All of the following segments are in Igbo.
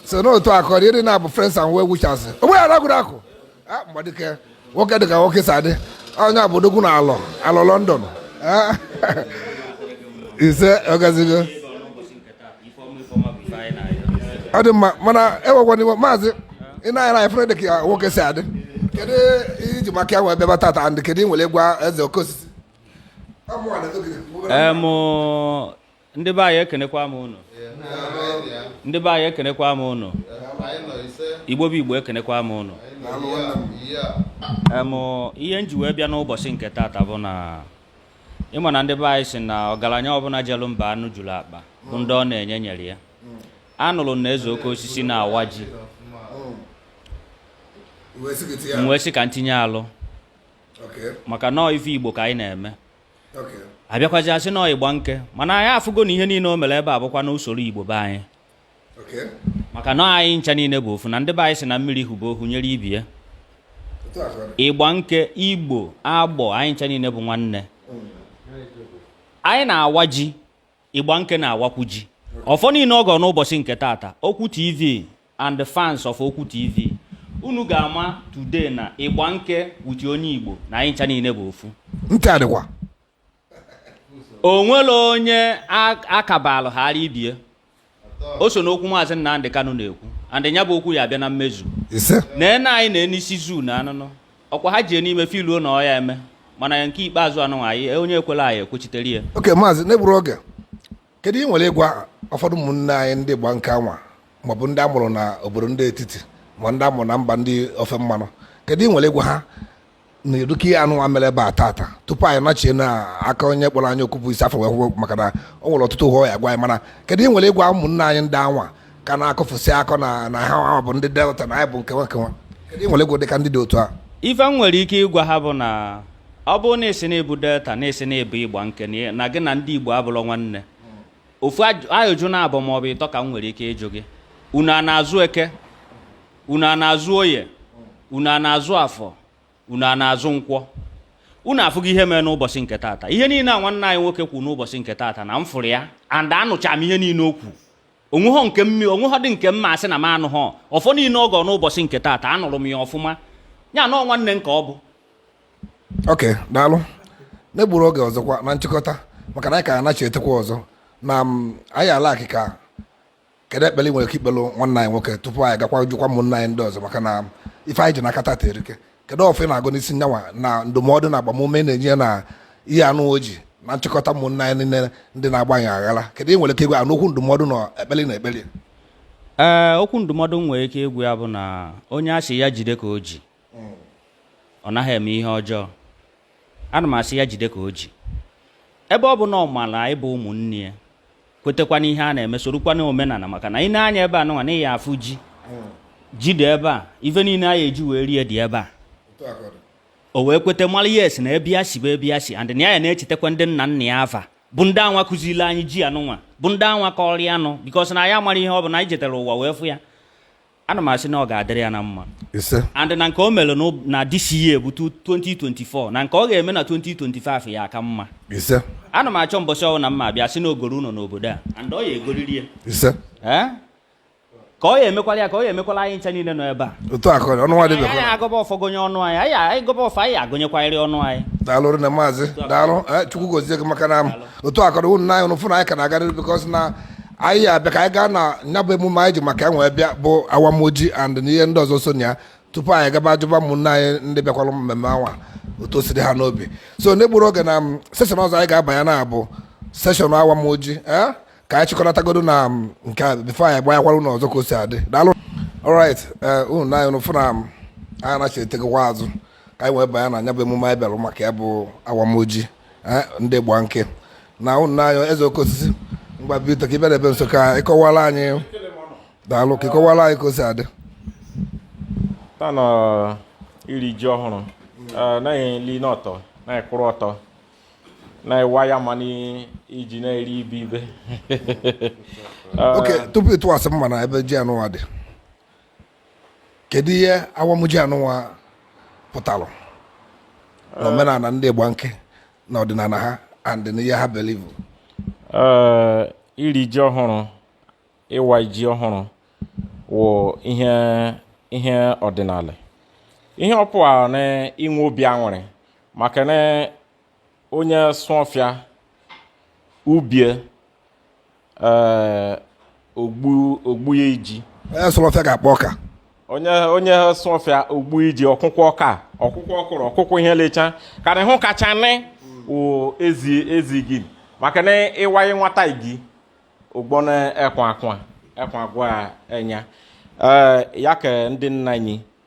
so n'otu akụ ọ dị ịdị na-abụ friends and well wishers onwe ya ragụrụ akụ Ah, mgbadike nwoke dịka nwoke si adị onye a bụ odogwu na alọ alọ london Ah, ise ọgazigo ọ dị mma mana ewekwana iwe maazị ị na-anya na efere dịka nwoke si adị kedu ihe iji maka ya wee bịa ebe a tata and kedu ihe ị nwere ịgwa eze oke osisi Ọ mụnwa na-eto gị. Em, ndị be anyị ekenekwa m ụnụ ndị be anyị ekenekwa m ụnụ igbo bụ igbo ekenekwa m ụnụ em ihe m ji wee bịa n'ụbọchị nke taata bụ na ị ma na ndị be anyị si na ọgaranya ọbụla jelu mba anụ juru akpa bụ ndị ọ na-enye nyere ya anụrụ na eze oke osisi na-awa ji m wee sị ka m tinye alụ maka na ọ ife igbo ka anyị na-eme abịakwazi a sị na ọ Igbanke mana anyị afụgo na ihe niile o mere ebe a bụkwa na usoro igbo be anyị maka na anyị ncha niile bụ ofu na ndị be anyị si na mmiri hụba ohu nyere ibe ya Igbanke igbo Agbọ anyị ncha niile bụ nwanne anyị na-awa ji Igbanke na-awakwu ji ọfọ niile ọ gọrọ n'ụbọchị nke taata okwu tv and the fans of Okwu TV unu ga-ama today na Igbanke wuti onye Igbo na anyị ncha niile bụ ofu ntị adịkwa onwere onye akabalụ ghara ibie o so n'okwu maazị Nnamdị Kanu na-ekwu and ya bụ okwu ya abịa na mmezu na ene anyị na n'isi zoo na anụnụ ọkwa ha jie n'ime filuo na ọ ya-eme mana nke ikpeazụ anwa anyị onye ekwela anyị ekwechitere ya okay maazị n'egburu oge kedu ihe ị nwere ịgwa ụfọdụ ụmụnne anyị ndị Igbanke anwa maọbụ ndị amụrụ na obodo ndị etiti ma ndị amụrụ na mba ndị ofe mmanụ kedu ihe ị nwere ịgwa ha na eruka ihe anụnwa mere ebe a tata tupu anyị nachie na aka onye kpọrọ anyị okwu bụ isi afọ wee kwụkwọ maka na ọ nwere ọtụtụ ihe ọ ya-agwa anyị mana kedu ihe ị nwere ịgwa ụmụnne anyị ndị anwa ka na-akọfụsị akọ na na ha ahụ bụ ndị delta na anyị bụ nkewa nkewa kedu ihe ị nwere ịgwa dịka ndị dị otu a ife m nwere ike ịgwa ha bụ na ọ bụrụ na ị sị na ị bụ delta na ị sị na ị bụ Igbanke na gị na ndị igbo abụrọ nwanne ofu ajụjụ naabọ ma ọ bụ ịtọ ka m nwere ike ịjụ gị unu a na-azụ eke unu a na-azụ oye unu a na-azụ afọ unu a na-azụ nkwọ unu afụgo ihe mere n'ụbọchị nke taata ihe niile a nwanne anyị nwoke kwuru n'ụbọchị nke taata na m fụrụ ya and anụcha m ihe niile o kwu onweghọ nke mmi onweghọ dị nke m ma-asị na m anụghọ ọfọ niile ọ gọ n'ụbọchị nke taata anụrụ m ya ọfụma ya na ọ nwanne nke ọ bụ ok daalụ n'egburu oge ọzọkwa na nchịkọta maka na anyị ka anachi etekwa ọzọ na mm, anyị ala akịka kedu ekpere ị nwere ike ikpelụ nwanne anyị nwoke tupu anyị gakwa jụkwa ụmụnna anyị ndị ọzọ maka na ife anyị ji n'aka tata erika kedu ọfọ ị na-agọ n'isi nyanwa na ndụmọdụ na agbamume na-enye na ihe anụ oji na nchịkọta ụmụnna anyị niile ndị na-agbanye aghara kedu ihe ị nwere ike ịgwa ya n'okwu ndụmọdụ na ekpele na ekpele ee okwu ndụmọdụ m nwere ike ịgwa ya bụ na onye asị ya jide ka o ji ọ naghị eme ihe ọjọọ ana m asị ya jide ka o ji ebe ọ bụ na ọ maara anyị bụ ụmụnne ya kwetekwa n'ihe a na-eme sorokwa na omenala maka na ị nee anya ebe anụnwa na ị ya-afụ ji ji dị ebe a ife niile anyị eji wee rie dị ebe a o wee kwete mara yes na ebe ya si bụ ebe ya si and na ya na-echetakwa ndị nna nna ya afa bụ ndị anwa kụziri anyị ji anụnwa bụ ndị anwa kọrọ ya nụ bikos na ya mara ihe ọ bụ na anyị jetara ụwa wee fụ ya ana m asị na ọ ga-adịrị ya na mma and na nke o mere na this year bụ 2024 na nke ọ ga-eme na 2025 ya-aka mma ana m achọ mbọchị ọ wụ na mma abịa sị na o goro ụlọ n'obodo a and ọ ya-egoriri ya eh? ka ọ ya emekwala ya ka ọ ya emekwala anyị ncha niile nọ ebe a otu akọ ọnụ nwa dịbe anyị agọba ọfọ gụnye onwe anyị anyị anyị gọba ọfọ anyị agụnyekwarịrị onwe anyị daalụ rinne maazị daalụ eh, chukwu gozie gị maka na otu akọrọ ụmụnna anyị unu fụ na anyị ka na-agarịrị bikọs na anyị abịa ka anyị gaa na ya bụ emume anyị ji maka ya wee bịa bụ awamoji and na ihe ndị ọzọ so na ya tupu anyị gaba ajụba ụmụnne anyị ndị bịakwara mmemme anwa otu o si dị ha n'obi so n'egburo oge na mm, seshọn ọzọ anyị ga-abanye na ya bụ seshọn awamoji ee ka anyị chịkọnatagodo na mm, nke a bifo anyị gbanyekwara ụlọ ọzọ ka o si adị daalụ alright ee ụmụnna anyị unu fụ na mm, anyị anachighatagokwa azụ ka anyị wee banye na ya bụ emume anyị bịara maka ya bụ awamoji Eh, ndị Igbanke na nna anyị eze oke osisi mgba bita ka ị bịara ebe nso ka ị kọwara anyị daalụ ka ị kọwara anyị ka o si adị taa n'iri ji ọhụrụ eh, naghị eri n'ọtọ naghị kwụrụ ọtọ naghị awa ya mana iji na-eri ibe ibe eh, oke tupu ị tụwasị mma na ebe ji anụwa dị kedu ihe awamoji anụnwa pụtara na omenala ndị Igbanke na ọdịnala ha and na ihe ha believe eh, iri ji ọhụrụ ịwa ji ọhụrụ wụ ihe ihe ọdịnala ihe ọpụa na inwe obi aṅụrị maka na onye sụọ ọfịa ubi e ee ogbu ogbu ya iji onye sụọ ọfịa ga-akpọ ọka onye onye sụọ ọfịa ogbu iji ọ kụkwọ ọka ọ kụkwọ ọkụrụ ọ kụkwọ ihe lecha karị hụ kacha nị wụ eze eze igi maka na ị waye nwata igi ụgbọ na ekwa akwa ekwa agwa enya ee ya ka ndị nna anyị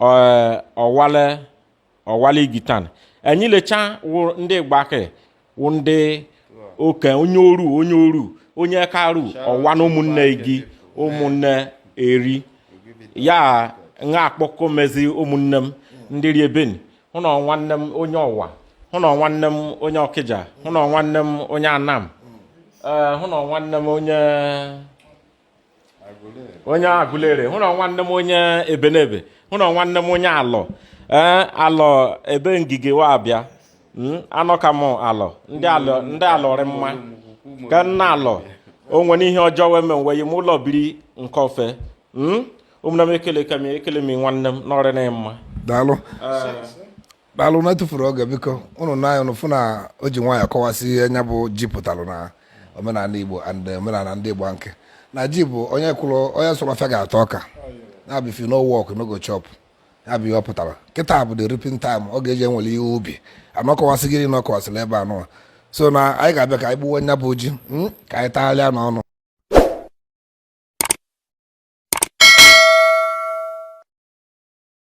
eh, ọwale ọwale igitan enyi lecha wụ ndị igbanke wụ ndị oke onye oru onye oru onye karu ọwa na ụmụnne gị ụmụnne eri ya m ga-akpọku mezi ụmụnne m ndị ri ebeni hụ na nwanne m onye ọwa hụ na nwanne m onye ọkịja hụ na nwanne m onye anam eh, hụ na nwanne m onye onye agụleri hụ na nwanne m onye ebenebe hụ na nwanne m onye alọ ee eh, alọ ebe ngige wa abịa hmm, anọ ka m alọ ndị alọ ndị alọ rị mma ka nna alọ o nwere ihe ọjọọ wee mee wee m ụlọ biri nke ofe hmm, ụmụnna m ekele ka m ekele m nwanne m nọrịa na mma daalụ eh, daalụ na etufuru oge biko ụnụ na ụnụ fụ na o ji nwaanyị kọwasị ihe nya bụ ji pụtalụ na omenala igbo and omenala ndị igbanke na ji bụ onye kwụrụ onye sụrụ ọfịa ga-ata ọka nya bụ if you no work no go chop ya bụ ihe ọ pụtara kịta bụ the reaping time ọ ga-eji ewere ihe ubi and ọ kọwasị gịrị na ọ kọwasịla ebe anụ so na anyị ga-abịa ka anyị gbuwe nya bụ ji hmm, ka anyị tagharịa n'ọnụ